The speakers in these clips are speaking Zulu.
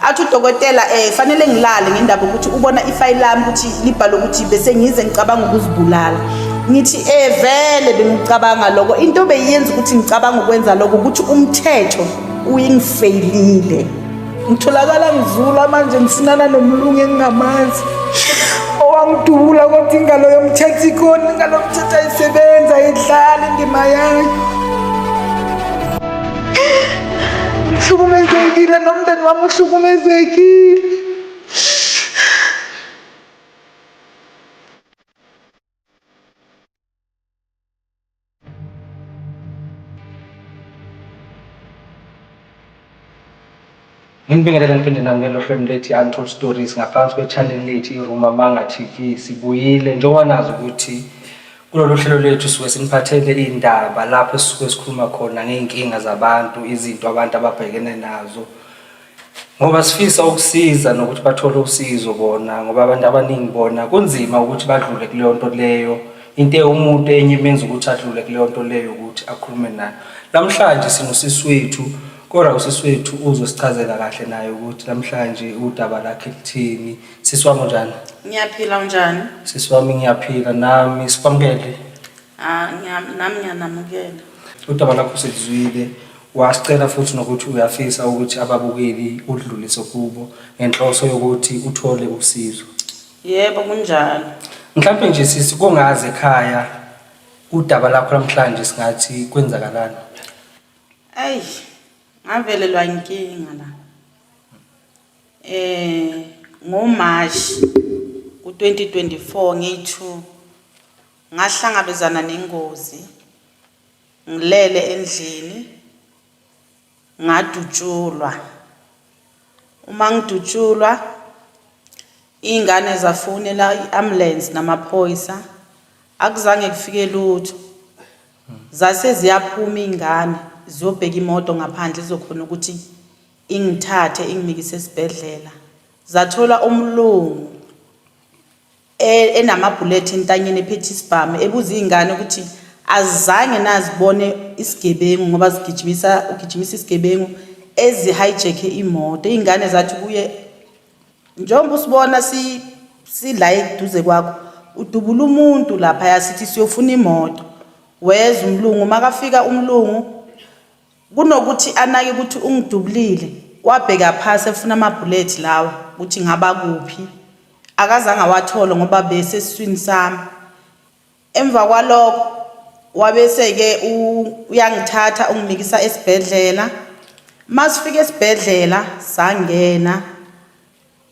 athi udokotela um fanele ngilale ngendaba ukuthi ubona ifayili lami ukuthi libhale ukuthi bese ngize ngicabanga ukuzibulala ngithi um vele bengicabanga loko into beyiyenza ukuthi ngicabanga ukwenza loko ukuthi umthetho uyingifeyilile ngitholakala ngizula manje ngisinana nomlungu engingamazi owangidubula kodwa ingalo yomthetho ikhona ingalo yomthetho ayisebenzi ayidlali indima yayo Hlukumezekile nomndeni wami uhlukumezekile. Nginibingelele niphinde namukele ohlwemi lethi Untold Stories ngaphansi kwechannel lethi iRuma Manga TV. Sibuyile njengoba nazi ukuthi kulolu hlelo lethu suke siniphathele iy'ndaba lapho esisuke sikhuluma khona ngey'nkinga zabantu, izinto abantu ababhekene nazo. Ngoba sifisa ukusiza nokuthi bathole usizo bona ngoba abantu abaningi bona kunzima ukuthi badlule kuleyo nto leyo. Into ewumuntu enye imenza ukuthi adlule kuleyo nto leyo ukuthi akhulume nayo. Namhlanje sinosisi wethu Kodwa usisi wethu uzosichazela kahle naye ukuthi namhlanje udaba lakhe luthini. Sisi wami unjani? Ngiyaphila unjani? Sisi wami ngiyaphila nami sikwamukele. Ah, ngiya- nami ngiyanamukela. Udaba lakho silizwile. Wasicela futhi nokuthi uyafisa ukuthi ababukeli udlulise kubo ngenhloso yokuthi uthole usizo. Yebo kunjalo. Mhlawumbe nje sisi kongazi ekhaya udaba lakho namhlanje singathi kwenzakalani. Ayi ngavelelwa inkinga la eh ngoMarch ku-2024 ngithu ngahlangabezana nengozi ngilele endlini ngadutshulwa uma ngidutshulwa iy'ngane zafonela i-ambulance namaphoyisa akuzange kufike lutho Zase ziyaphuma iy'ngane ziyobheka imoto ngaphandle izokhona ukuthi ingithathe ingimikise esibhedlela. Zathola umlungu e- enamabhulethi entanyeni ephethe isibhamu ebuza iy'ngane ukuthi azizange nazibone isigebengu ngoba zigijimisa ugijimisa isigebengu ezihijack imoto. Iy'ngane zathi kuye njengoba usibona si sila eduze kwakho udubula umuntu lapha yasithi siyofuna imoto weza umlungu makafika umlungu kunokuthi anake ukuthi ungidubulile wabheka phasi efuna amabullet lawa ukuthi ngaba kuphi akazange awathole ngoba besesiswini sami Emva kwalokho wabese-ke uyangithatha ungimikisa esibhedlela. Uma sifika esibhedlela sangena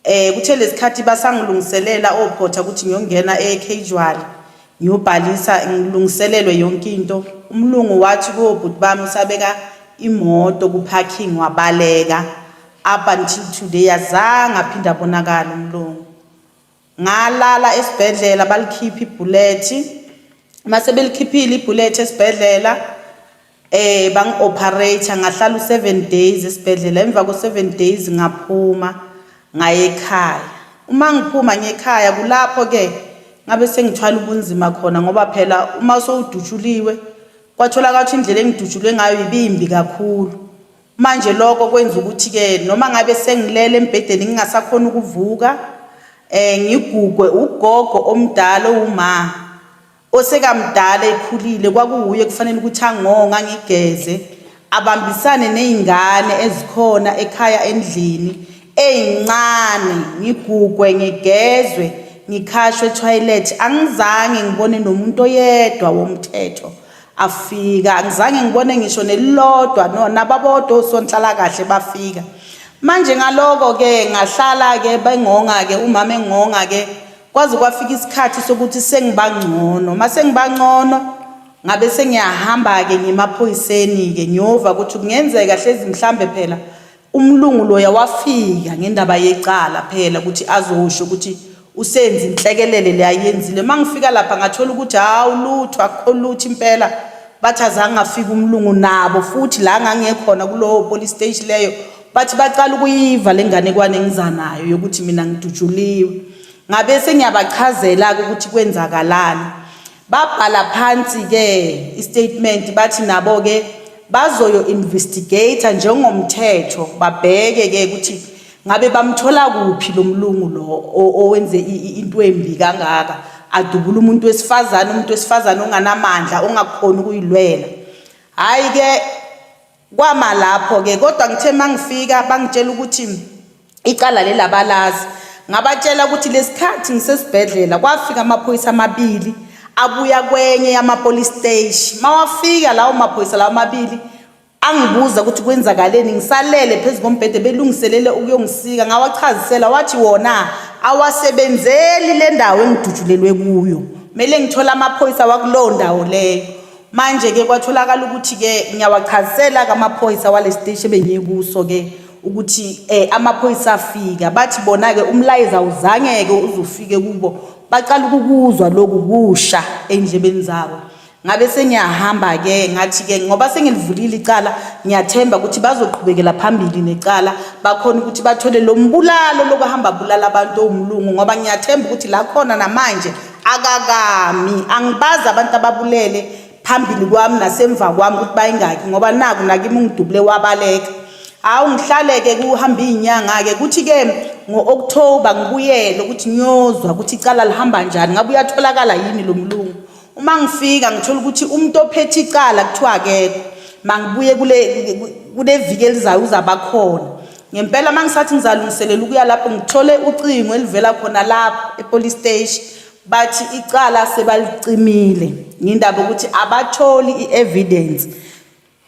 eh kuthe lesikhathi basangilungiselela ophotha ukuthi ngiyongena e-casual ngiyobhalisa ngilungiselelwe yonke into umlungu wathi kobhuti bami usabeka imoto ku-parking wabaleka up until today azange aphinde abonakala umlungu Ngalala esibhedlela balikhipha ibhulethi. Uma sebelikhiphile ibhulethi esibhedlela eh bangi-operate ngahlala u-seven days esibhedlela emva ko-seven days ngaphuma ngaye ekhaya uma ngiphuma ngekhaya kulapho-ke ngabe sengithwala ubunzima khona ngoba phela uma sowudutshuliwe kwatholakala ukuthi indlela engidutshulwe ngayo ibimbi kakhulu Manje lokho kwenza ukuthi ke noma ngabe sengilele embhedeni ngingasakhona ukuvuka eh ngigugwe ugogo omdala uma osekamdala ekhulile kwakuwuye kufanele ukuthi angonga ngigeze abambisane nezingane ezikhona ekhaya endlini ezincane ngigugwe ngigezwe ngikhashwe toilet angizange ngibone nomuntu oyedwa womthetho afika angizange ngibone ngisho nelilodwa no nababodwa osonhlala kahle bafika manje ngaloko ke ngahlala ke bengonga ke umama engonga ke kwaze kwafika isikhathi sokuthi sengibangcono mase ngibangcono ngabe sengiyahamba ke ngimaphoyiseni ke ngiyova ukuthi kungenzeka hlezi mhlambe phela Umlungu loya wafika ngendaba yecala phela ukuthi azosho ukuthi usenzi inhlekelele le ayenzile uma ngifika lapha ngathola ukuthi hawu lutho akukho lutho impela bathi azange afike umlungu nabo futhi la ngangekhona kulowo police station leyo bathi baqala ukuyiva le nganekwane engizanayo yokuthi mina ngidutshuliwe ngabe sengiyabachazela-ke ukuthi kwenzakalani Babhala phansi-ke istatement bathi nabo-ke bazoyo-investigator njengomthetho babheke-ke ukuthi ngabe bamthola kuphi lo mlungu lo owenze into embi kangaka adubula umuntu wesifazane umuntu wesifazane onganamandla ongakhona ukuyilwela hhayi-ke Kwama lapho ke kodwa ngithe mangifika bangitshela ukuthi icala lelabalazi ngabatshela ukuthi lesikhathi ngisesibhedlela kwafika amaphoyisa amabili abuya kwenye yama police station mawafika lawo maphoyisa lawo mabili angibuza ukuthi kwenzakaleni ngisalele phezu kombhede belungiselele ukuyongisika ngawachazisela wathi wona awasebenzeli le ndawo engidutshulelwe kuyo kumele ngithole amaphoyisa wakulowo ndawo leyo Manje-ke kwatholakala ukuthi-ke ngiyawachazisela kamaphoyisa wale siteshi ebengiye kuso-ke ukuthi um amaphoyisa afika bathi bona-ke umlayezo awuzangeke uzufike kubo baqala ukukuzwa loku kusha ey'ndlebeni zabo ngabe sengiyahamba-ke ngathi-ke ngoba sengilivulile icala ngiyathemba ukuthi bazoqhubekela phambili necala bakhona ukuthi bathole lo mbulalo lokuhamba bulala abantu owumlungu ngoba ngiyathemba ukuthi la khona namanje akakami angibazi abantu ababulele phambili kwami nasemva kwami ukuthi bayingaki ngoba naku nakimi ungidubule wabaleka hawu ngihlaleke kuhamba iy'nyanga-ke kuthi-ke ngo-okthoba ngibuyele ukuthi ngiyozwa ukuthi icala lihamba njani ngabe uyatholakala yini lo mlungu uma ngifika ngithola ukuthi umuntu ophethe icala kuthiwa akekho mangibuye kule viki elizayo uzabakhona Ngempela uma ngisathi ngizalungiselela ukuya lapho ngithole ucingo elivela khona lapho epolice station bathi icala sebalicimile ngindaba ukuthi abatholi i-evidence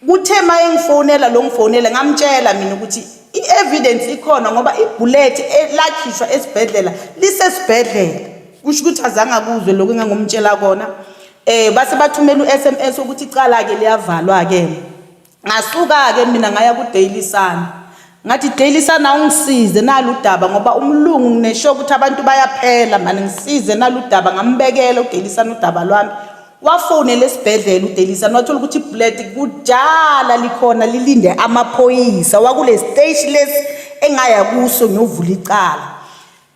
kuthe uma engifonela lo ngifonela ngamtshela mina ukuthi i-evidence ikhona ngoba ibhulethi lakhishwa esibhedlela lisesibhedlela kusho ukuthi azange akuzwe lokhu engangomtshela kona um base bathumela u-s m s ukuthi icala-ke liyavalwa-ke ngasuka-ke mina ngaya kudaily sun ngathi daily sun awungisize nalu daba ngoba umlungu nginesho ukuthi abantu bayaphela mani ngisize nalu daba ngambekela udaily sun udaba lwami wafonela esibhedlela udaily sun wathola ukuthi ibullet kudala likhona lilinde amaphoyisa wakule stage lesi engaya kuso ngiyovula icala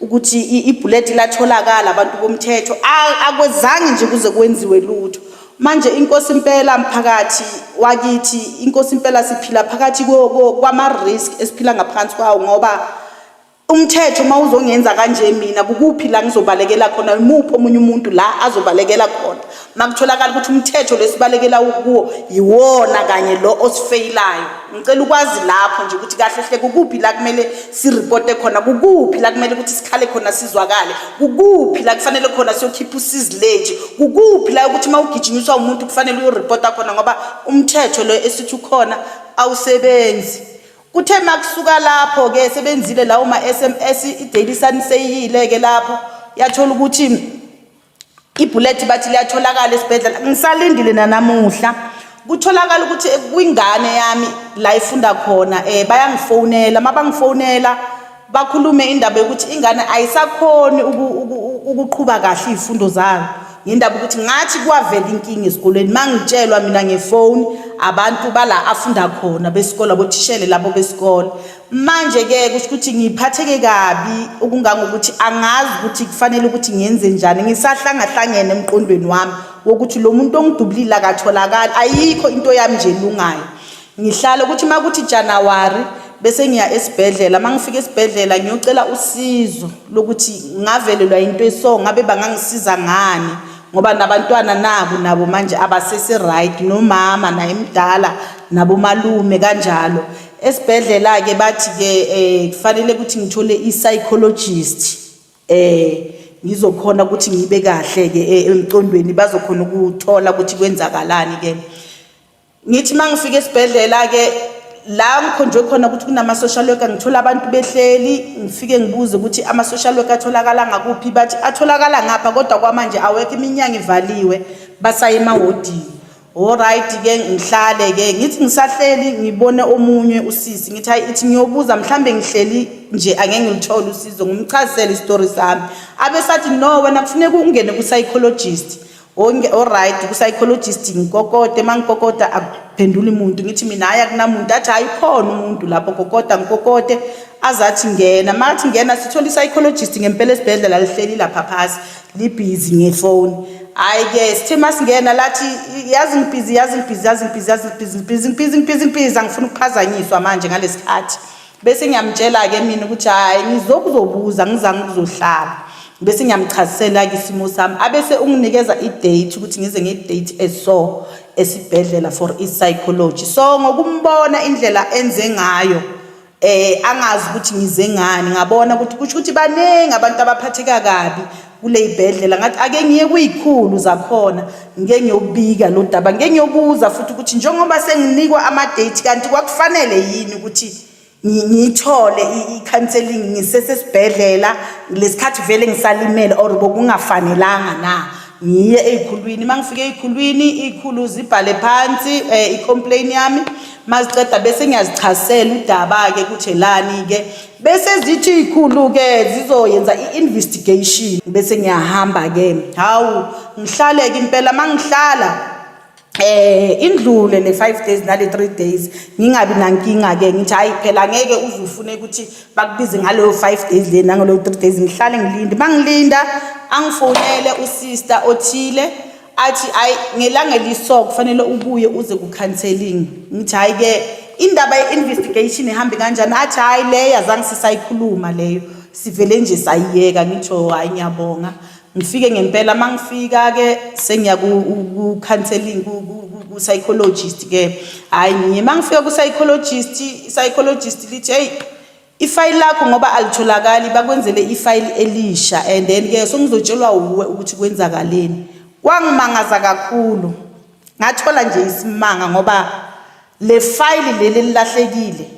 ukuthi ibhuleti latholakala abantu bomthetho akwezange nje kuze kwenziwe lutho manje inkosi impela mphakathi wakithi inkosi impela siphila phakathi kwama-risk esiphila ngaphansi kwawo ngoba umthetho uma uzongenza kanje mina kukuphi la ngizobalekela khona imuphi omunye umuntu la azobalekela khona makutholakala ukuthi umthetho lesibalekela ukuwo yiwona kanye lo osifeyilayo ngicela ukwazi lapho nje ukuthi kahle hle kukuphi la kumele siripote khona kukuphi la kumele ukuthi sikhale khona sizwakale kukuphi la kufanele khona siyokhipha usizileji kukuphi la ukuthi uma ugijinyiswa umuntu kufanele uyoripota khona ngoba umthetho lo esithi ukhona awusebenzi kuthe makusuka lapho ke sebenzile lawo ma-sms i-daily sun seyiyile ke lapho yathola ukuthi ibhulethi bathi liyatholakala esibhedlela ngisalindile nanamuhla kutholakala ukuthi kwingane yami la ifunda khona um bayangifonela uma bangifonela bakhulume indaba yokuthi ingane ayisakhoni ukuqhuba kahle iy'fundo zayo ngendaba ukuthi ngathi kwavela inkinga esikolweni uma ngitshelwa mina ngefoni abantu bala afunda khona besikole abothishele labo besikole manje ke kusho ukuthi ngiphatheke kabi okungangokuthi angazi ukuthi kufanele ukuthi ngenze njani ngisahlangahlangene emqondweni wami wokuthi lo muntu ongidubulile akatholakali ayikho into yami nje lungayo ngihlale ukuthi uma kuthi januwari bese ngiya esibhedlela uma ngifika esibhedlela ngiyocela usizo lokuthi ngavelelwa into eso ngabe bangangisiza ngani ngoba nabantwana nabo nabo manje abasese right nomama naye mdala nabomalume kanjalo esibhedlela-ke bathi-ke um kufanele ukuthi ngithole i-psychologist um ngizokhona ukuthi ngibe kahle-ke eh, emcondweni bazokhona ukuthola ukuthi kwenzakalani-ke ngithi uma ngifika esibhedlela-ke la ngikhonjwe khona ukuthi kunama-social worker ngithola abantu behleli ngifike ngibuze ukuthi ama-social worker atholakala ngakuphi bathi atholakala ngapha kodwa kwamanje awekho iminyanga ivaliwe basayemawodini Alright ke ngihlale ke ngithi ngisahleli ngibone omunye usisi ngithi hayi ithi ngiyobuza mhlambe ngihleli nje angeke ngilithole usizo ngimchazisele istory sami abe sathi no wena kufuneka ungene ku psychologist onke alright ku psychologist ngikokode mangikokota akuphenduli umuntu ngithi mina hayi akunamuntu athi hayi khona umuntu lapho kokota ngikokode azathi ngena mathi ngena sithola i psychologist ngempela esibhedlela lihleli lapha phasi libhizi ngefoni hayi ke sithe masingena lathi yazi ngibhizi yazi ngibhizi yazi ngibhizi yazi ngibhizi ngibhizi ngibhizi ngibhizi ngibhizi angifuni ukuphazanyiswa manje ngalesi khathi bese ngiyamtshela-ke mina ukuthi hhayi ngizokuzobuza ngizange ukuzohlala bese ngiyamchazisela-ke isimo sami abese unginikeza i-date ukuthi ngize nge-date eso esibhedlela for i-psychology so ngokumbona indlela enze ngayo eh angazi ukuthi ngize ngani ngabona ukuthi kusho ukuthi baningi abantu abaphatheka kabi kuleyibhedlela ngathi ake ngiye kuyikhulu zakhona ngike ngiyobika lo daba ngike ngiyobuza futhi ukuthi njengoba senginikwa ama date kanti kwakufanele yini ukuthi ngithole i-counseling ngisesesibhedlela lesikhathi vele ngisalimele or bokungafanelanga na ngiye ezikhulwini mangifike ezikhulwini izikhulu zibhale phansi eh, i-complain yami maziqeda bese ngiyazichasela udaba-ke ukuthi elani-ke bese zithi iy'khulu-ke zizoyenza i-investigation bese ngiyahamba-ke hawu ngihlale-ke impela uma ngihlala eh indlule le 5 days nale 3 days ngingabi nankinga ke ngithi hayi phela ngeke uze ufune ukuthi bakubize ngaleyo 5 days le nangaleyo 3 days ngihlale ngilinde mangilinda angifonele usister othile athi hayi ngelanga eliso kufanele ubuye uze ku-counseling ngithi hhayi-ke indaba ye-investigation ihambe kanjani athi hhayi leyo azange sisayikhuluma leyo sivele nje sayiyeka ngitho hhayi ngiyabonga ngifike ngempela uma ngifika-ke sengiya ku-counseling ku-psychologist-ke hhayi ngiye uma ngifika ku-psychologist i-psychologist lithi eyi Ifayili lakho ngoba alitholakali bakwenzele ifayili elisha and then ke sengizotshelwa wuwe ukuthi kwenzakaleni. Kwangimangaza kakhulu. Ngathola nje isimanga ngoba le fayili leli lilahlekile.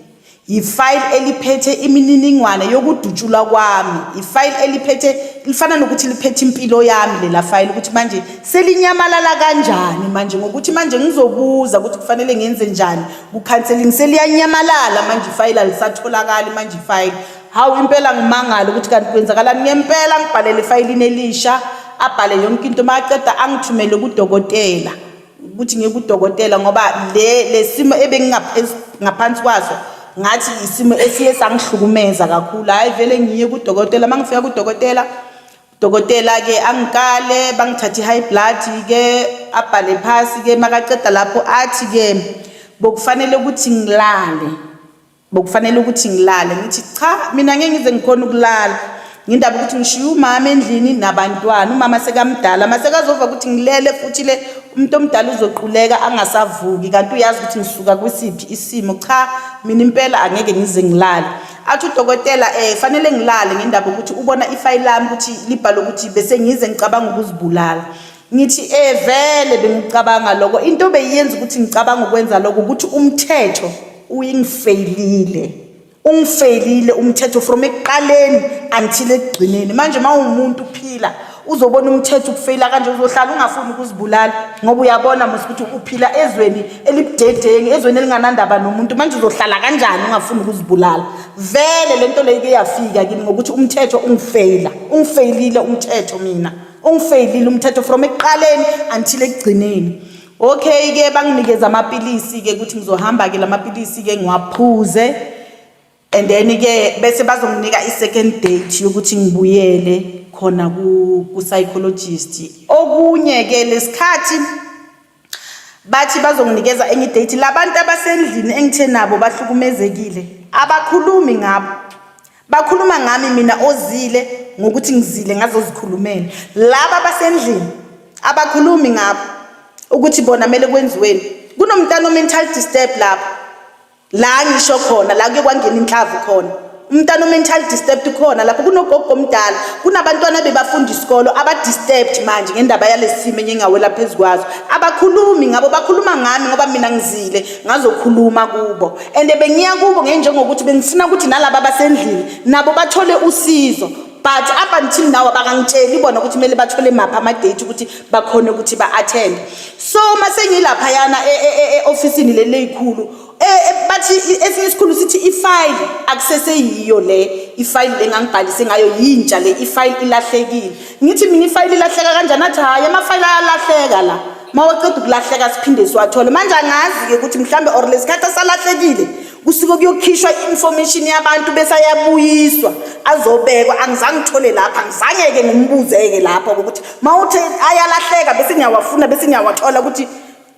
Yifayili eliphethe imininingwane yokudutshulwa kwami. Ifayili eliphethe lifana nokuthi liphethe impilo yami lela fayili ukuthi manje selinyamalala kanjani manje ngokuthi manje ngizobuza ukuthi kufanele ngenze njani kukhanselingi seliyanyamalala manje ifayili alisatholakali manje ifayili hawu impela ngimangala ukuthi kanti kwenzakalani ngempela ngibhalele efayilini elisha abhale yonke into uma aqeda angithumele kudokotela ukuthi ngiye kudokotela ngoba le lesimo ebengingaphansi kwaso ngathi isimo esiye sangihlukumeza kakhulu hayi vele ngiye kudokotela uma ngifika kudokotela Dokotela-ke angikale bangithathe i-high blood-ke abhale phasi-ke makaceda lapho athi-ke bokufanele ukuthi ngilale bokufanele ukuthi ngilale ngithi cha mina ngeke ngize ngikhona ukulala ngindaba ukuthi ngishiye umama endlini nabantwana umama sekamdala mase kazova ukuthi ngilele futhi le umuntu omdala uzoquleka angasavuki kanti uyazi ukuthi ngisuka kwisiphi isimo cha mina impela angeke ngize ngilale athi udokotela um fanele ngilale ngendaba ukuthi ubona ifayili lami ukuthi libhale ukuthi bese ngize ngicabanga ukuzibulala ngithi um vele bengicabanga loko into beyiyenza ukuthi ngicabanga ukwenza loko ukuthi umthetho uyingifeyilile ungifeyilile umthetho from ekuqaleni until ekugcineni manje uma ungumuntu uphila uzobona umthetho ukufeyila kanje uzohlala ungafuni ukuzibulala ngoba uyabona mos ukuthi uphila ezweni elibudedengi ezweni elinganandaba nomuntu manje uzohlala kanjani ungafuni ukuzibulala vele le nto leyo keyafika kimi ngokuthi umthetho ungifeyila ungifeyilile umthetho mina ungifeyilile umthetho from ekuqaleni until ekugcineni okay ke banginikeza amapilisi ke ukuthi ngizohamba ke lamapilisi ke ngiwaphuze and then ke bese bazonginika i-second date yokuthi ngibuyele khona ku-psychologist okunye ke lesikhathi bathi bazonginikeza enye idate labantu abasendlini engithe nabo bahlukumezekile abakhulumi ngabo bakhuluma ngami mina ozile ngokuthi ngizile ngazozikhulumela laba basendlini abakhulumi ngabo ukuthi bona kumele kwenziweni kunomntana o-mental disturb lapho la ngisho khona la kuye kwangena inhlavu khona umntana o-mental disturbed khona lapho kunogogo omdala kunabantwana bebafunda isikolo aba-disturbed manje ngendaba yalesi simo enye ngawela phezu kwazo abakhulumi ngabo bakhuluma ngami ngoba mina ngizile ngazokhuluma kubo and bengiya kubo ngenjengokuthi bengifuna ukuthi nalaba basendlini nabo bathole usizo but up until now abakangitsheli bona ukuthi kumele bathole maphi ama-date ukuthi bakhone ukuthi ba-attende so uma sengilaphayana e, e, e, e-ofisini leli leyikhulu bathi esinye isikhulu sithi ifayili akuseseyiyo le ifayili le ngangibhalise ngayo yintsha le ifayili ilahlekile ngithi mina ifayili ilahleka kanjani athi hhayi amafayili ayalahleka la uma waceda ukulahleka siphinde siwathole manje angazi-ke ukuthi mhlawumbe or lesikhathi asalahlekile kusuke kuyokhishwa i-information yabantu bese ayabuyiswa azobekwa angizange ngithole lapha ngizange-ke ngimbuze-ke lapho ukuthi ma uthe ayalahleka bese ngiyawafuna bese ngiyawathola ukuthi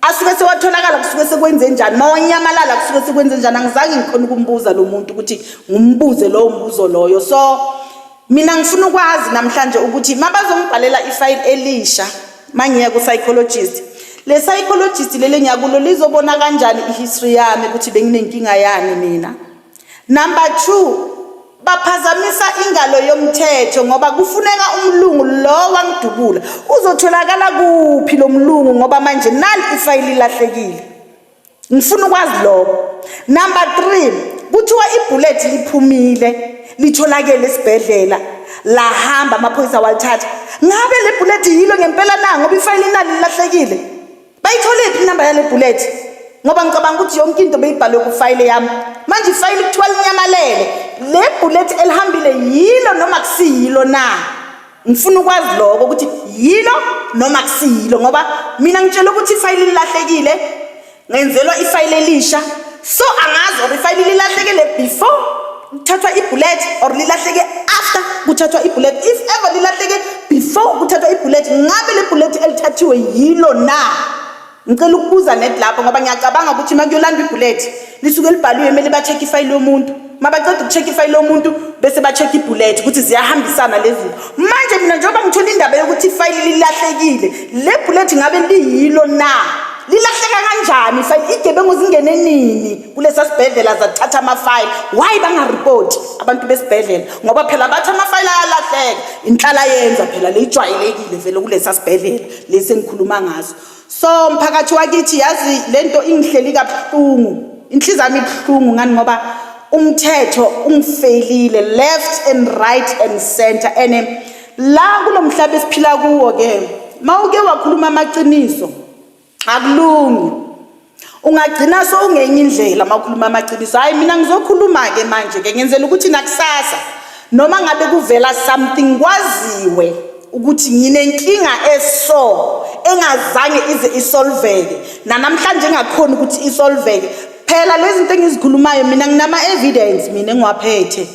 asuke sewatholakala kusuke sekwenze njani ma wanyamalala kusuke sekwenze njani angizange ngikhona ukumbuza lo muntu ukuthi ngimbuze lowo mbuzo loyo so Mina ngifuna ukwazi namhlanje ukuthi mabazongibhalela ifayili elisha mangiya ku-psychologist le psychologist leli engiyakulo lizobona kanjani i-history yami ukuthi benginenkinga yani mina number two baphazamisa ingalo yomthetho ngoba kufuneka umlungu lo wangidubula uzotholakala kuphi lo mlungu ngoba manje nali ifayili lahlekile ngifuna ukwazi lokho number 3 kuthiwa ibullet liphumile litholakele esibhedlela lahamba amaphoyisa walithatha ngabe le bullet yilo ngempela na ngoba ifayile inani lilahlekile bayithole phi inamba yale bullet ngoba ngicabanga ukuthi yonke into beyibhalwe kufayile yami manje ifayile kuthiwa linyamalele le bullet elihambile yilo noma kusiyilo na ngifuna ukwazi lokho ukuthi yilo noma kusiyilo ngoba mina ngitshela ukuthi ifayili lilahlekile ngenzelwa ifayili elisha so angazi or ifayili lilahlekile before kuthathwa ibullet or lilahleke after kuthathwa ibullet if ever lilahleke before kuthathwa ibullet ngabe le bullet elithathiwe yilo na Ngicela ukubuza net lapho ngoba ngiyacabanga ukuthi uma kuyolandwa ibhulethi lisuke libhaliwe kumele ba-check ifayili lomuntu uma baceda uku-check ifayili lomuntu bese ba-check ibhulethi ukuthi ziyahambisana lezi zinto manje mina njengoba ngithola indaba yokuthi ifayili lilahlekile le bhulethi ngabe liyilo na lilahleka kanjani ifayili igebengu zingene nini kulesa sibhedlela zathatha amafayili why bangaripoti abantu besibhedlela ngoba phela bathi amafayili ayalahleka inhlala yenza phela leyijwayelekile vele kulesa sibhedlela lesi engikhuluma ngaso so mphakathi wakithi yazi lento ingihleli kabuhlungu inhliziyo yami ibuhlungu ngani ngoba umthetho ungifelile left and right and center and eh, la kulomhlaba esiphila kuwo ke mawuke wakhuluma amaqiniso akulungi Ungagcina sowungenye indlela makhuluma amaqiniso. Hayi mina ngizokhuluma ke manje ke ngenzela ukuthi nakusasa noma ngabe kuvela something kwaziwe ukuthi nginenkinga eso engazange ize isolveke nanamhlanje engakhona ukuthi isolveke phela lezi zinto engizikhulumayo mina nginama evidence mina engiwaphethe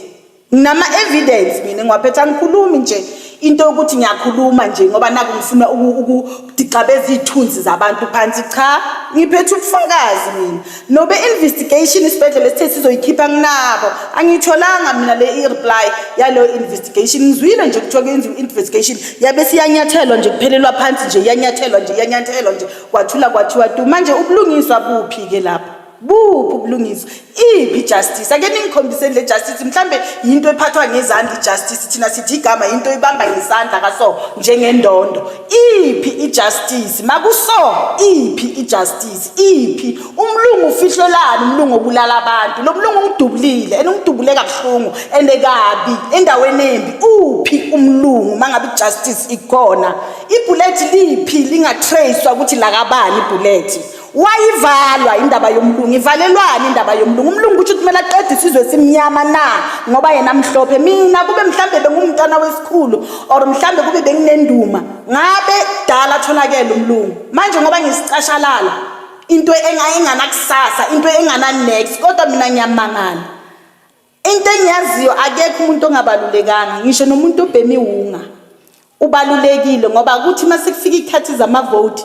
Nginama evidence mina ngiwaphetha ngikhulumi nje into yokuthi ngiyakhuluma nje ngoba naku ngifuna ukudixabeza iy'thunzi zabantu phansi cha ngiphethe ubufakazi mina nobe investigation isibhedlela esithe sizoyikhipha nginabo angiyitholanga mina le i-reply yaleyo investigation ngizwile nje kuthiwa kuyenziwa investigation yabe siyanyathelwa nje kuphelelwa phansi nje iyanyathelwa nje iyanyathelwa nje kwathula kwathiwa tu manje ubulungiswa buphi-ke lapho buphi ubulungiswa iphi ijustice ake ningikhombiseni le justice mhlawumbe yinto ephathwa ngezandla ijustice thina sithi igama yinto ibamba ngesandla kaso njengendondo iphi ijustice makuso iphi ijustice iphi umlungu ufihlelani umlungu obulala abantu lo mlungu ungidubulile and ungidubule kabuhlungu and kabi endaweni embi uphi umlungu mangabe ijustice ikhona ibullet liphi lingatracewa ukuthi lakabani ibullet wayivalwa indaba yomlungu ivalelwani indaba yomlungu umlungu kusho ukuthi kumele aqede isizwe esimnyama na ngoba yena mhlophe mina kube mhlawumbe bengumntwana wesikhulu or mhlawumbe kube benginenduma ngabe dala atholakele umlungu manje ngoba ngisicashalala into engayenganakusasa into engana-next kodwa mina ngiyamangala into engiyaziyo akekho umuntu ongabalulekanga ngisho nomuntu obhemi wunga ubalulekile ngoba kuthi uma sekufika ikhathi zamavoti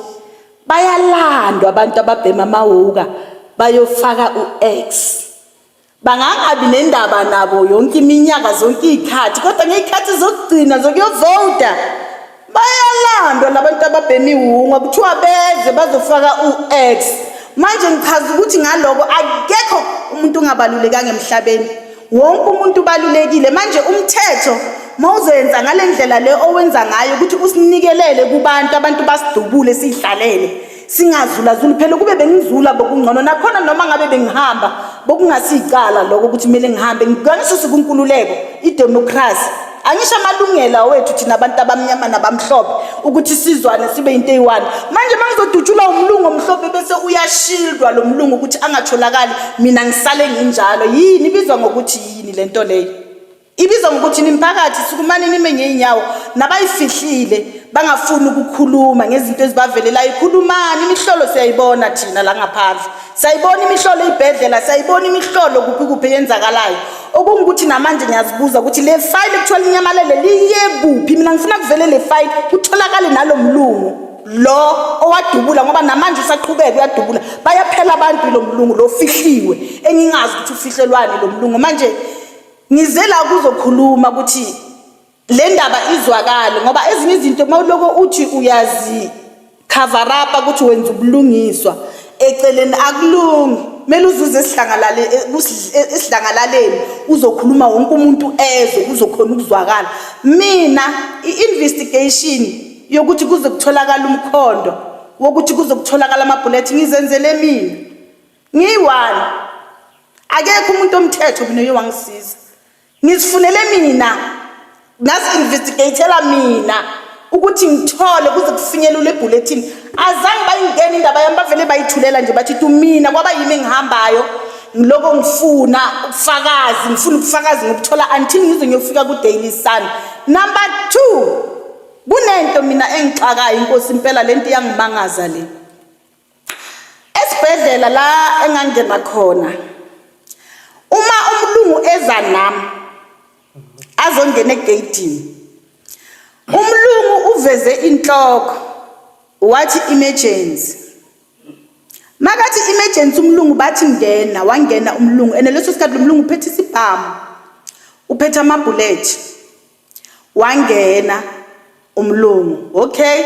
bayalandwa abantu ababhema amawuka bayofaka u-x bangangabi nendaba nabo yonke iminyaka zonke iy'khathi kodwa ngey'khathi zokugcina zokuyovota bayalandwa labantu ababhemi wunga kuthiwa beze bazofaka u-x manje ngichaza ukuthi ngaloko akekho umuntu ungabalulekanga emhlabeni wonke umuntu ubalulekile manje umthetho mawuzoyenza ngalendlela le owenza ngayo ukuthi usinikelele kubantu abantu basidubule sidlalele singazulazuli phela ukube bengizula bokungcono nakhona noma ngabe bengihamba bokungasiyicala lokho ukuthi kumele ngihambe ngangisuse kunkululeko idemokhrasi angisho amalungelo awethu thina abantu abamnyama nabamhlophe ukuthi sizwane sibe into eyi-one manje uma ngizodutshulwa umlungu omhlophe bese uyashildwa lo mlungu ukuthi angatholakali mina ngisale nginjalo yini ibizwa ngokuthi yini le nto leyo Ibizwa ngokuthi nimphakathi sukumane nime ngeenyawo nabayifihlile bangafuni ukukhuluma ngezinto ezibavelelayo khulumani imihlolo siyayibona thina la ngaphandle siyayibona imihlolo ibhedlela siyayibona imihlolo kuphi kuphi eyenzakalayo okungukuthi namanje ngiyazibuza ukuthi le fayile kuthiwa linyamalele liye kuphi mina ngifuna kuvele le fayile kutholakale nalo mlungu lo owadubula ngoba namanje usaqhubeka uyadubula bayaphela abantu lo mlungu lo fihliwe engingazi ukuthi ufihlelwani lo mlungu manje Ngize la kuzokhuluma ukuthi le ndaba izwakale ngoba ezinye izinto uma uloko uthi uyazi cover up ukuthi wenza ubulungiswa eceleni akulungi kumele uzuze esidlangalale e, e, esidlangalaleni uzokhuluma wonke umuntu ezwe kuzokhona ukuzwakala mina i-investigation yokuthi kuze kutholakala umkhondo wokuthi kuze kutholakala amabhulethi ngizenzele mina ngiyi-one akekho umuntu omthetho mina oye wangisiza ngizifunele mina ngazi-investigatela mina ukuthi ngithole kuze kufinyelule ebulletin azange bayingena indaba yami bavele bayithulela nje bathi tu mina kwaba yimi engihambayo ngiloko ngifuna ubufakazi ngifuna ubufakazi ngokuthola until ngize ngiyofika ku-daily sun number two kunento mina engixakayo inkosi impela le nto iyangimangaza le esibhedlela la engangena khona uma umlungu eza nami azongena egeyidini umlungu uveze inhloko wathi emergency makathi emergency umlungu bathi ngena wangena umlungu and leso sikhathi umlungu uphethe isibhamu uphethe amabhulethi wangena umlungu okay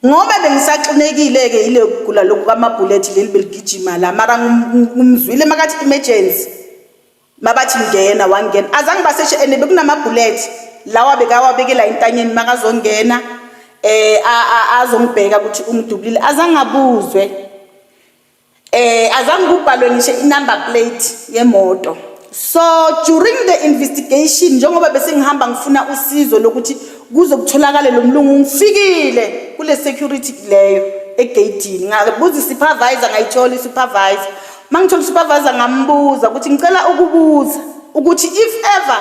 ngoba bengisaxinekile-ke yile kugula lokhu kwamabhulethi leli beligijima la mara ngimzwile makathi emergency mabathi ngena wangena azange baseshe and bekunamabhulethi lawa bekawabekela intanyeni makazongena eh azongibheka ukuthi umdubulile azange abuzwe Eh azange kubhalwe ngisho inumber plate yemoto. So during the investigation njengoba bese ngihamba ngifuna usizo lokuthi kuzokutholakala lo mlungu ngifikile kule security leyo egeyidini ngabuza i-supervisor ngayithola i-supervisor uma ngithola i-supervisor ngambuza ukuthi ngicela ukubuza ukuthi if ever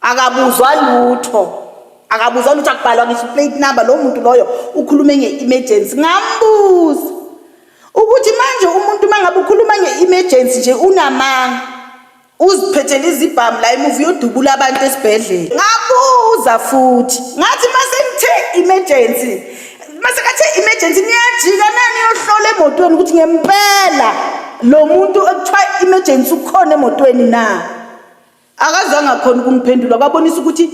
akabuzwa lutho akabuzwa lutho akubhalwa ngisho plate number lo muntu loyo ukhulume nge-emergency ngambuza ukuthi manje umuntu uma ngabe ukhuluma nge-emergency nje unamanga uziphethele izibhamu la emuva uyodubula abantu esibhedlela ngabuza futhi ngathi uma sengithe emergency uma sekathe emergency niyajika nani yohlola emotweni ukuthi ngempela lo muntu ekuthiwa emergency ukhona emotweni na akazange akhona ukumphendula kwabonisa ukuthi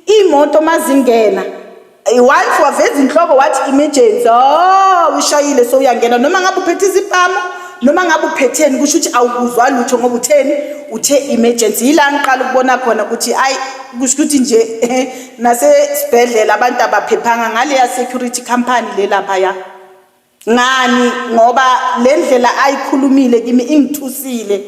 imoto mazingena once waveza inhloko wathi emergency oh ushayile so uyangena noma ngabe uphethe izibhamu noma ngabe uphetheni kusho ukuthi awukuzwa lutho ngoba utheni uthe emergency yila ngiqala ukubona khona ukuthi ayi kusho ukuthi nje nasesibhedlela abantu abaphephanga ngale ya security company le lapha ya ngani ngoba le ndlela ayikhulumile kimi ingithusile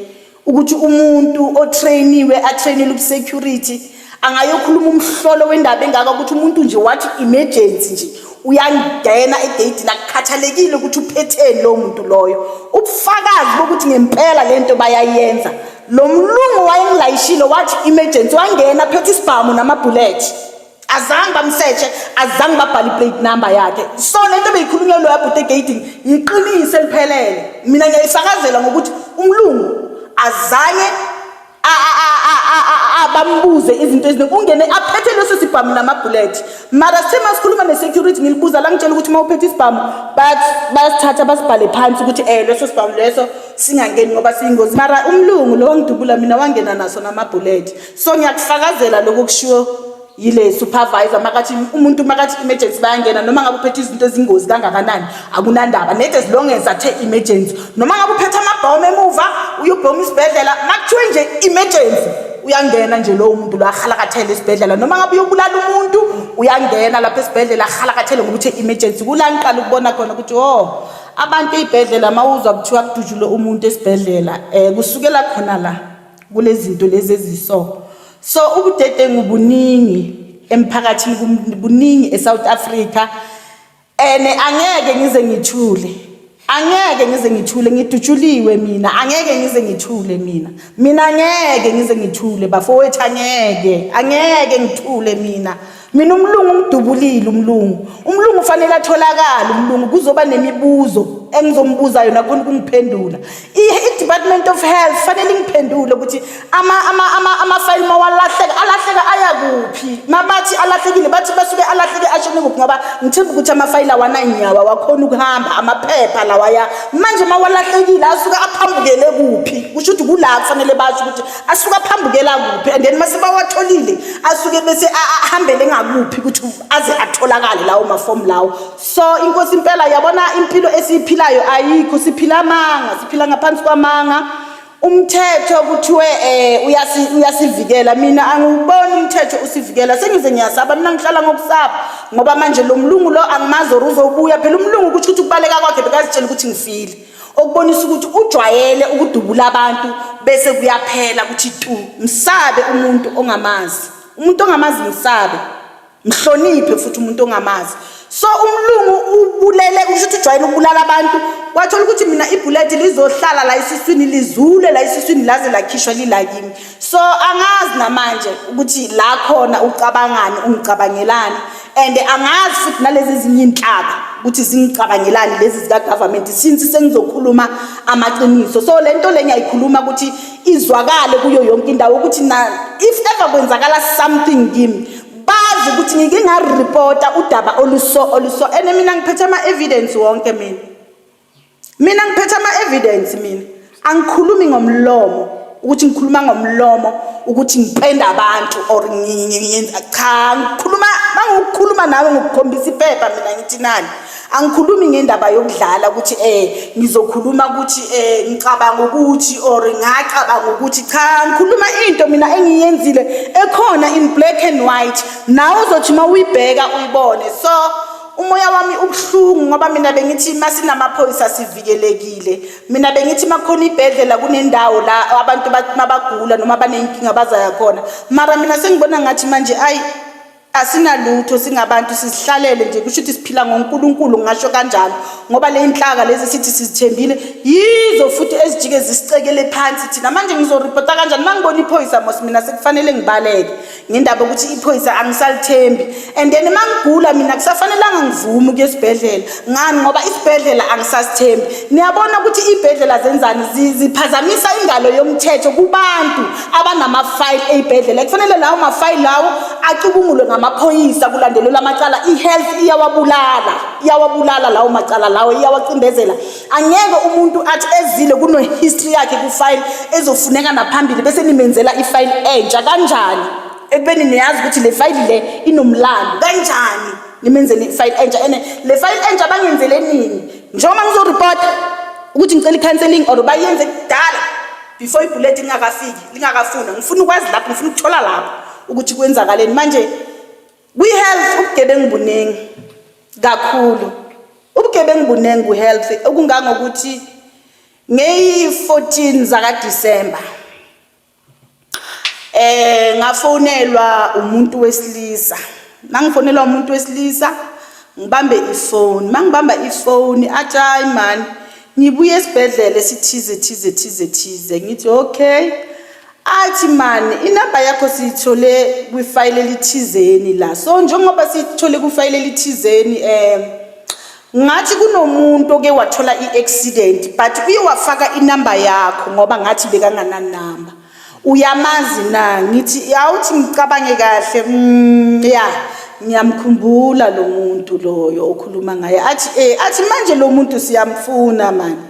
ukuthi umuntu otrainiwe atrainele ubusecurity angayokhuluma umhlolo wendaba engaka ukuthi umuntu nje wathi emergency nje uyangena egeyidini akukhathalekile ukuthi uphetheni lowo muntu loyo ubufakazi bokuthi ngempela le nto bayayenza lo mlungu wayengilayishile wathi emergency wangena phethe isibhamu namabhulethi azange bamsetshe azange babhale iplate number yakhe so le nto beyikhulunywa loya bhuti egating yiqiniso eliphelele mina ngiyayisakazela ngokuthi umlungu azange bambuze izinto eziningi ungene aphethe leso sibhamu namabhulethi mara sithe uma sikhuluma ne-security ngilibuza la ngitshela ukuthi uma uphethe isibhamu bayasithatha basibhale phansi ukuthi um leso sibhamu leso singangeni ngoba siyingozi mara umlungu lo wangidubula mina wangena naso namabhulethi so ngiyakufakazela lokho kushiwo yile supervisor makathi umuntu makathi emergency bayangena noma ngabe uphethe izinto ezingozi kangakanani akunandaba net as long as athe emergency noma ngabe uphethe amabhomu emuva uyubhomu isibhedlela makuthiwe nje emergency uyangena nje lowo muntu lo ahalakathele esibhedlela noma ngabe uyobulala umuntu uyangena lapha esibhedlela ahalakathele ngokuthi emergency kula ngiqala ukubona khona ukuthi oh abantu ey'bhedlela mawuzwa kuthiwa kudutshulwe umuntu esibhedlela um kusukela khona la kulezinto lezi eziso so ubudedengu buningi emphakathini kuningi eSouth Africa and angeke ngize ngithule angeke ngize ngithule ngidutshuliwe mina angeke ngize ngithule mina mina angeke ngize ngithule bafowethu angeke angeke ngithule mina mina umlungu umdubulile umlungu umlungu ufanele atholakale umlungu kuzoba nemibuzo engizombuza yona khona ukungiphendula i-department of health fanele ingiphendule ukuthi amafayili mawalahleka alahleka aya kuphi mabathi alahlekile bathi basuke alahleke ashone kuphi ngoba ngithemba ukuthi amafayili awananyawo awakhona ukuhamba amaphepha lawaya manje mawalahlekile asuke aphambukele kuphi kusho ukuthi kula kufanele basho ukuthi asuke aphambukela kuphi and then mase bawatholile asuke bese ahambele ngakuphi ukuthi aze atholakale lawo mafomu lawo so inkosi impela yabona impilo esiyiphilayo ayikho siphila amanga siphila ngaphansi kwamanga umthetho kuthiwe eh uyasi uyasivikela mina angiwuboni umthetho usivikela sengize ngiyasaba mina ngihlala ngokusaba ngoba manje lo mlungu lo angimazi or uzobuya phela umlungu ukuthi ukuthi kubaleka kwakhe bekazitshela ukuthi ngifile okubonisa ukuthi ujwayele ukudubula abantu bese kuyaphela ukuthi tu msabe umuntu ongamazi umuntu ongamazi msabe mhloniphe futhi umuntu ongamazi so umlungu ubulele usho ukuthi ujwayele ukubulala abantu wathola ukuthi mina ibhuleti lizohlala la esiswini lizule la esiswini laze lakhishwa lilakimi so angazi namanje ukuthi la khona ucabangani ungicabangelani and angazi futhi nalezi zinye inhlaba ukuthi zingicabangelani lezi zika government since sengizokhuluma amaqiniso so lento le ngiyayikhuluma ukuthi izwakale kuyo yonke indawo ukuthi na if ever kwenzakala something kimi bazi ukuthi ngike ngareporta udaba oluso oluso and mina ngiphethe ama evidence wonke mina mina ngiphetha ama evidence mina angikhulumi ngomlomo ukuthi ngikhuluma ngomlomo ukuthi ngipenda abantu or ngiyenza cha ngikhuluma mangikhuluma nawe ngikukhombisa iphepha mina ngithi nani angikhulumi ngendaba yokudlala ukuthi eh ngizokhuluma ukuthi eh ngicabanga ukuthi or ngacabanga ukuthi cha ngikhuluma into mina engiyenzile ekhona in black and white nawe uzothi uma uyibheka uyibone so Umoya wami ubuhlungu ngoba mina bengithi masinamaphoyisa sivikelekile. Mina bengithi makukhona ibhedlela kunendawo la abantu mabagula noma baneyinkinga bazaya khona. Mara mina sengibona ngathi manje ayi asinalutho singabantu sizihlalele nje kusho ukuthi siphila ngoNkulunkulu ngasho kanjalo ngoba le inhlaka lezi sithi sizithembile yizo futhi ezijike zisicekele phansi thina manje ngizoripota kanjani mangibona iphoyisa mos mina sekufanele ngibaleke ngendaba yokuthi iphoyisa angisalithembi and then uma ngigula mina kusafanelanga ngivume ukuya esibhedlela ngani ngoba isibhedlela angisasithembi niyabona ukuthi iy'bhedlela zenzani ziphazamisa ingalo yomthetho kubantu abanamafayili ey'bhedlela kufanele lawo mafayili lawo acubungulwe ngamaphoyisa kulandelelwa amacala i-health iyawabulala iyawabulala lawo macala lawo iyawacindezela angeke umuntu athi ezile kuno-history yakhe kufayile ezofuneka naphambili bese nimenzela ifayile entsha kanjani ekubeni niyazi ukuthi le fayili le inomlando kanjani nimenzele ifayili entsha ene le fayili entsha bangenzele nini njengoba ngizoripota ukuthi ngicela i-counseling or bayenze kudala before ibhuleti lingakafiki lingakafuna ngifuna ukwazi lapho ngifuna ukuthola lapho ukuthi kwenzakaleni manje Kwi-health ubugebengu buningi kakhulu. Ubugebengu buningi kwi-health okungangokuthi ngeyi-14 zakaDisemba eh ngafonelwa umuntu wesilisa. Mangifonelwa umuntu wesilisa ngibambe ifoni. Mangibamba ifoni athi hayi man ngibuye esibhedlela esithize thize thize thize ngithi okay Athi man inamba yakho siyithole kwifayile elithizeni la so njengoba siyithole kwifayile elithizeni um ngathi kunomuntu oke wathola i-accident but uye wafaka inamba yakho ngoba ngathi bekangananamba uyamazi na ngithi awuthi ngicabange kahle mm, ya yeah. ngiyamkhumbula lo muntu loyo okhuluma ngaye athi eh athi manje lo muntu siyamfuna mani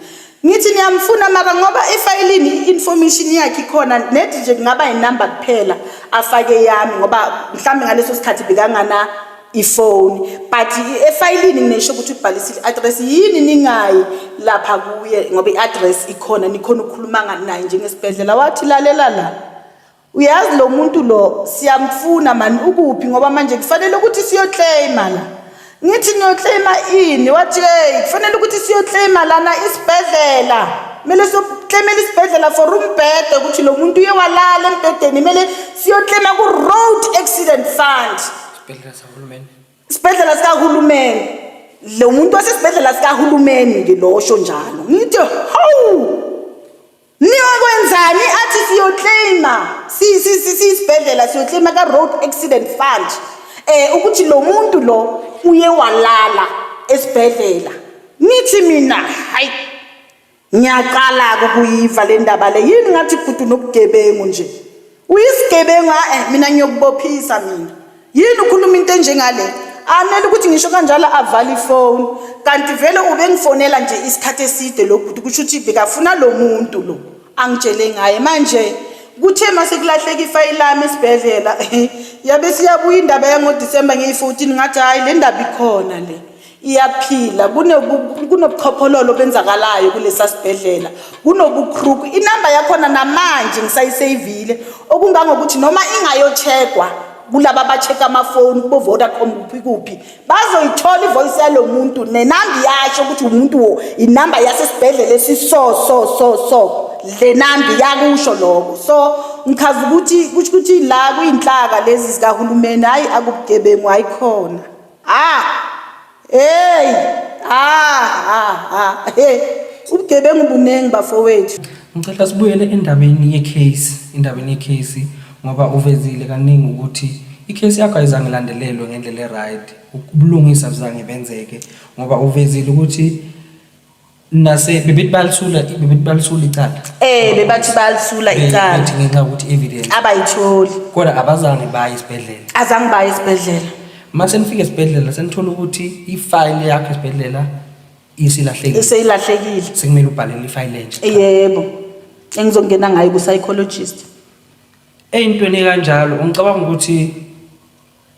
Ngithi niyamfuna mara ngoba efayilini i-information yakhe ikhona nedi nje kungaba inumber kuphela afake yami ngoba mhlawumbe ngaleso sikhathi bekangana ifoni but efayilini nginesho ukuthi ubhalisile i-address yini ningayi lapha kuye ngoba i-address ikhona nikhona ukukhuluma naye njengesibhedlela wathi lalela la Uyazi lo muntu lo siyamfuna mani ukuphi ngoba manje kufanele ukuthi siyoclaima la. Ngithi niyoclaima ini? Wathi hey kufanele ukuthi siyoclaima lana isibhedlela. Kumele siyoclaimela isibhedlela for umbhede ukuthi lo muntu uye walala embhedeni kumele siyoclaima ku road accident fund. Isibhedlela sahulumeni. Isibhedlela sikahulumeni. Lo muntu wasesibhedlela sikahulumeni ngilosho njalo. Ngithi hawu niyokwenzani athi siyoclaima siyisibhedlela siyoclaima ka-road accident fund um ukuthi lo muntu lo uye walala esibhedlela nithi mina hayi ngiyaqala-ke ukuyiva le ndaba le yini ngathi bhuti unobugebengu nje Uyisigebengu ae mina ngiyokubophisa mina. Yini ukhuluma into enjengale? Amele ukuthi ngisho kanjalo avale ifoni. Kanti vele ubengifonela nje isikhathi eside lo bhuti kusho ukuthi bekafuna lo muntu lo angitshele ngaye manje kuthe mase kulahleka ifayili lami esibhedlela yabe siyabuya indaba yangoDisemba ngeyi-14 ngathi hhayi le ndaba ikhona le iyaphila kunobu- kunobuchophololo obenzakalayo kulesa sibhedlela kunobukruku inamba yakhona namanje ngisayiseyivile okungangokuthi noma ingayochekwa kulaba abacheka amafoni kubo-vodacom kuphi kuphi bazoyithola ivoyisi yalo muntu nenamba iyasho ukuthi umuntu wo inamba yasesibhedlela esiso so so so le nambi yakusho lokho so ngichaza ukuthi kusho ukuthi la kuyinhlaka lezi zikahulumeni hhayi akubugebengu hayikhona Ah! Hey! Ah! Ah! ah. Hey! Ubugebengu buningi bafowethu. Ngicela sibuyele endabeni ye-case, endabeni ye-case ngoba uvezile kaningi ukuthi i-case yakho ayizange ilandelelwe ngendlela e-right. Ubulungisa buzange benzeke ngoba uvezile ukuthi nase bebethi balisula bebethi balisula icala eh bebathi balisula icala bethi ngenxa ukuthi evidence abayitholi kodwa abazange baye esibhedlela azange baye esibhedlela mase nifike esibhedlela senithola ukuthi ifile yakho esibhedlela isilahlekile isilahlekile sekumele ubhalele ifile entsha yebo engizongena ngayo ku psychologist eyintweni kanjalo ungicabanga ukuthi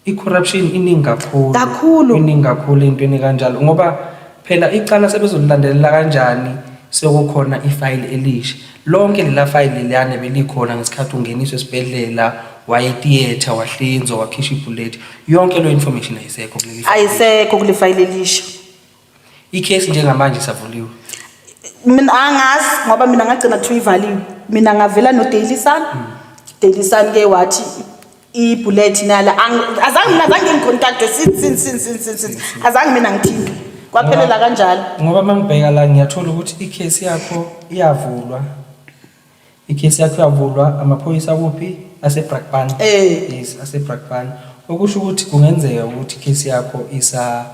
I-corruption iningi kakhulu. Kakhulu. Iningi kakhulu entweni kanjalo ngoba phela icala sebezolilandelela kanjani sekukhona ifayili elisha. Lonke lela fayili liyane belikhona ngesikhathi ungeniswa esibhedlela waye theatre wahlinzwa wakhishwa ibhuleti. Yonke leyo information ayisekho kuleli fayili. Ayisekho kulefayile elisha. Ikhesi njengamanje isavuliwe. Mina angazi ngoba mina ngagcina kuthiwa ivaliwe. Mina ngavela no Daily Sun. Daily Sun ke wathi ibullet nala Ang- azange mina azange ngicontact since since since since since- since azange mina ngithinte kwaphelela kanjalo Ngoba mangibheka la ngiyathola ukuthi ikhesi yakho iyavulwa Ikhesi yakho yavulwa amaphoyisa kuphi aseBrakpan. Eh. Yes, aseBrakpan. Okusho ukuthi kungenzeka ukuthi ikhesi yakho isa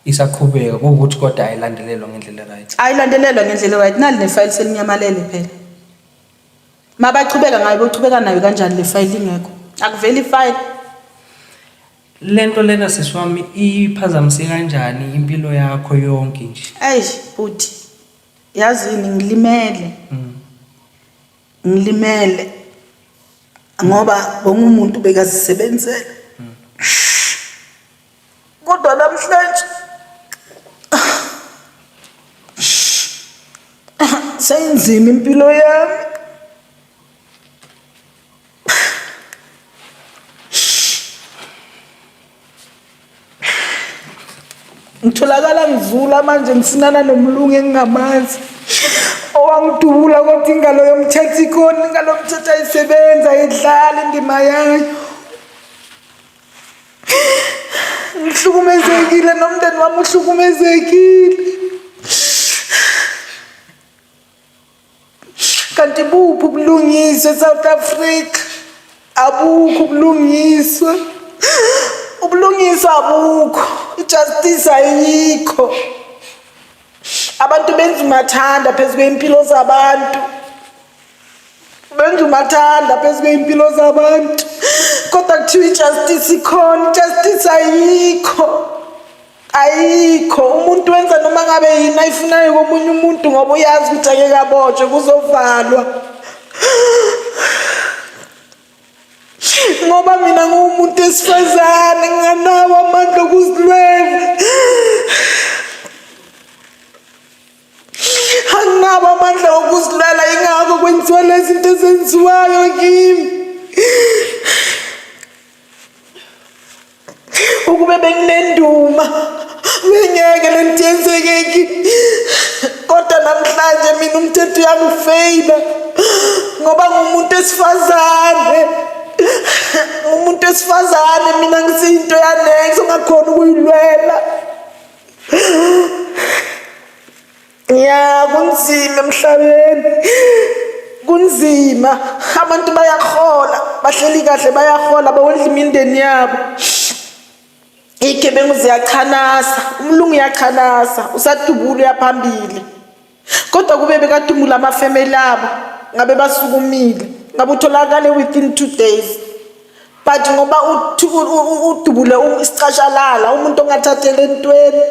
isaqhubeka kuwukuthi kodwa ayilandelelwa ngendlela right. ayilandelelwa ngendlela right nali nefayili selinyamalele phela mabachubeka ngayo bochubeka nayo kanjani le fayili ingekho akuveli ifayili Lento lena siswami iphazamise kanjani impilo yakho yonke nje? eish bhuti yazini ngilimele ngilimele ngoba bonke umuntu bekazisebenzela kodwa namhlanje seyinzima impilo yami ngitholakala ngizula manje ngisinana nomlungu engingamazi owangidubula kodwa ingalo yomthetho ikhona ingalo yomthetho ayisebenzi ayidlali indima yayo ngihlukumezekile nomndeni wami uhlukumezekile kanti buphi ubulungiswa eSouth Africa abukho ubulungiswa ubulungiswa abukho ijustice ayikho abantu benza umathanda phezu kwey'mpilo zabantu benza umathanda phezu kwey'mpilo zabantu kodwa kuthiwa ijustice ikhona ijustice ayikho ayikho umuntu wenza noma ngabe yini ayifunayo komunye umuntu ngoba uyazi ukuthi ake kabotshwe kuzovalwa ngoba mina nguwumuntu esifazane nginganawo amandla okuzilwela anginabo amandla okuzilwela ingakho kwenziwa lezi zinto ezenziwayo kimi ukube benginenduma bengeke le nto yenzeke ki kodwa namhlanje mina umthetho uyangifeyila ngoba ngumuntu esifazane umuntu esifazane mina ngisiyinto yanex ongakhona ukuyilwela ya kunzima emhlabeni kunzima abantu bayahola bahleli kahle bayahola bawondla imindeni yabo iy'gebengu ziyachanasa umlungu uyachanasa usadubula uyaphambili kodwa kube bekadumula amafemeli abo ngabe basukumile ngabe utholakale within two days but ngoba udubule isicashalala umuntu ongathathele entweni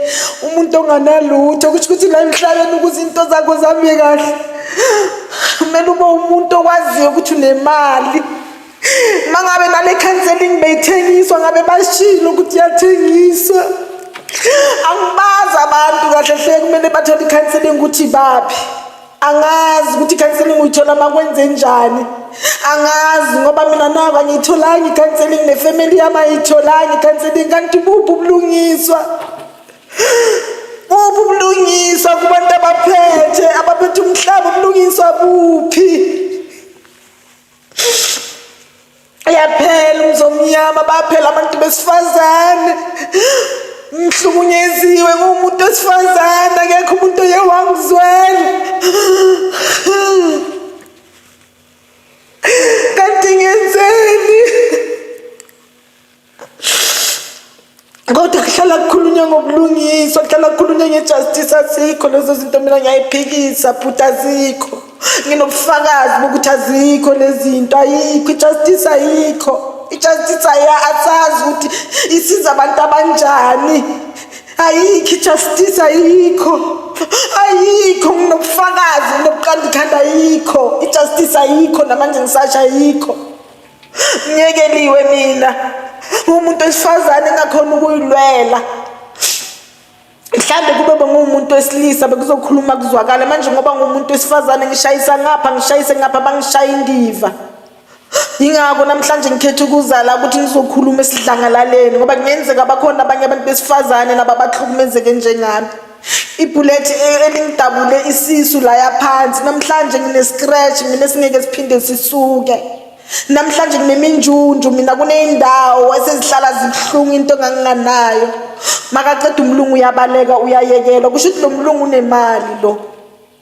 umuntu onganalutho kusho ukuthi la emhlabeni ukuze into zakho zame kahle kumele ube umuntu okwaziyo ukuthi unemali uma ngabe nale counseling beyithengiswa ngabe bashilo ukuthi yathengiswa angibazi abantu kahle hle kumele bathole i-counseling ukuthi baphi angazi ukuthi ikhanselingi uyithola makwenze njani angazi ngoba mina nako angiyitholanga ikhanselingi nefamily yami ayiyitholanga ikhanselingi kanti buphi ubulungiswa buphi ubulungiswa kubantu abaphethe abaphethe umhlaba ubulungiswa buphi Ayaphela umzomnyama baphela abantu besifazane ngihlukunyeziwe ngumuntu wesifazane akekho umuntu oye wangizwela kodwa kuhlala kukhulunywa ngobulungiswa kuhlala kukhulunywa ngejustice azikho lezo zinto mina ngiyayiphikisa bhuti azikho nginobufakazi bokuthi azikho lezi zinto ayikho ijustice ayikho ijustice aya asazi ukuthi isiza abantu abanjani ayikho ijustice ayikho ayikho nginobufakazi ngilobuqanda ikhanda ayikho ijustice ayikho namanje ngisasha ayikho Nyekeliwe mina umuntu wesifazane engakhona ukuyilwela mhlawumbe kube bengumuntu wesilisa bekuzokhuluma kuzwakala manje ngoba ngumuntu wesifazane ngishayisa ngapha ngishayise ngapha bangishaye indiva yingakho namhlanje ngikhetha ukuzala ukuthi ngizokhuluma esidlangalaleni ngoba kungenzeka bakhona abanye abantu besifazane nababahlukumezeke njengami ibhulethi e- elingidabule isisu laya phansi namhlanje ngine-scratch mina singeke siphinde sisuke namhlanje ngineminjunju mina kuney'ndawo esezihlala zibuhlungu into enganginganayo makaceda umlungu uyabaleka uyayekelwa kusho ukuthi lo mlungu unemali lo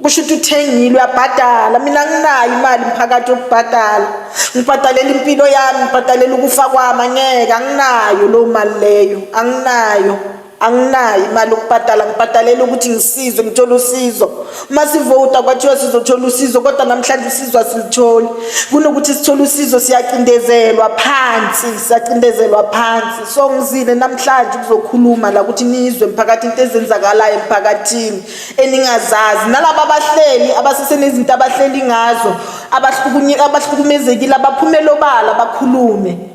kusho ukuthi uthengile uyabhadala mina nginayo imali mphakathi yokubhadala ngibhadalela impilo yami ngibhadalela ukufa kwami angeke anginayo loo mali leyo anginayo anginayo imali yokubhadala ngibhadalela ukuthi ngisizwe ngithole usizo uma sivota kwathiwa sizothola usizo kodwa namhlanje usizo asilitholi kunokuthi sithole usizo siyacindezelwa phansi siyacindezelwa phansi so ngizile namhlanje ukuzokhuluma la ukuthi nizwe mphakathi into ezenzakalayo emphakathini eningazazi nalaba abahleli abasesenezinto abahleli ngazo abahlukumezekile abaphumele obala bakhulume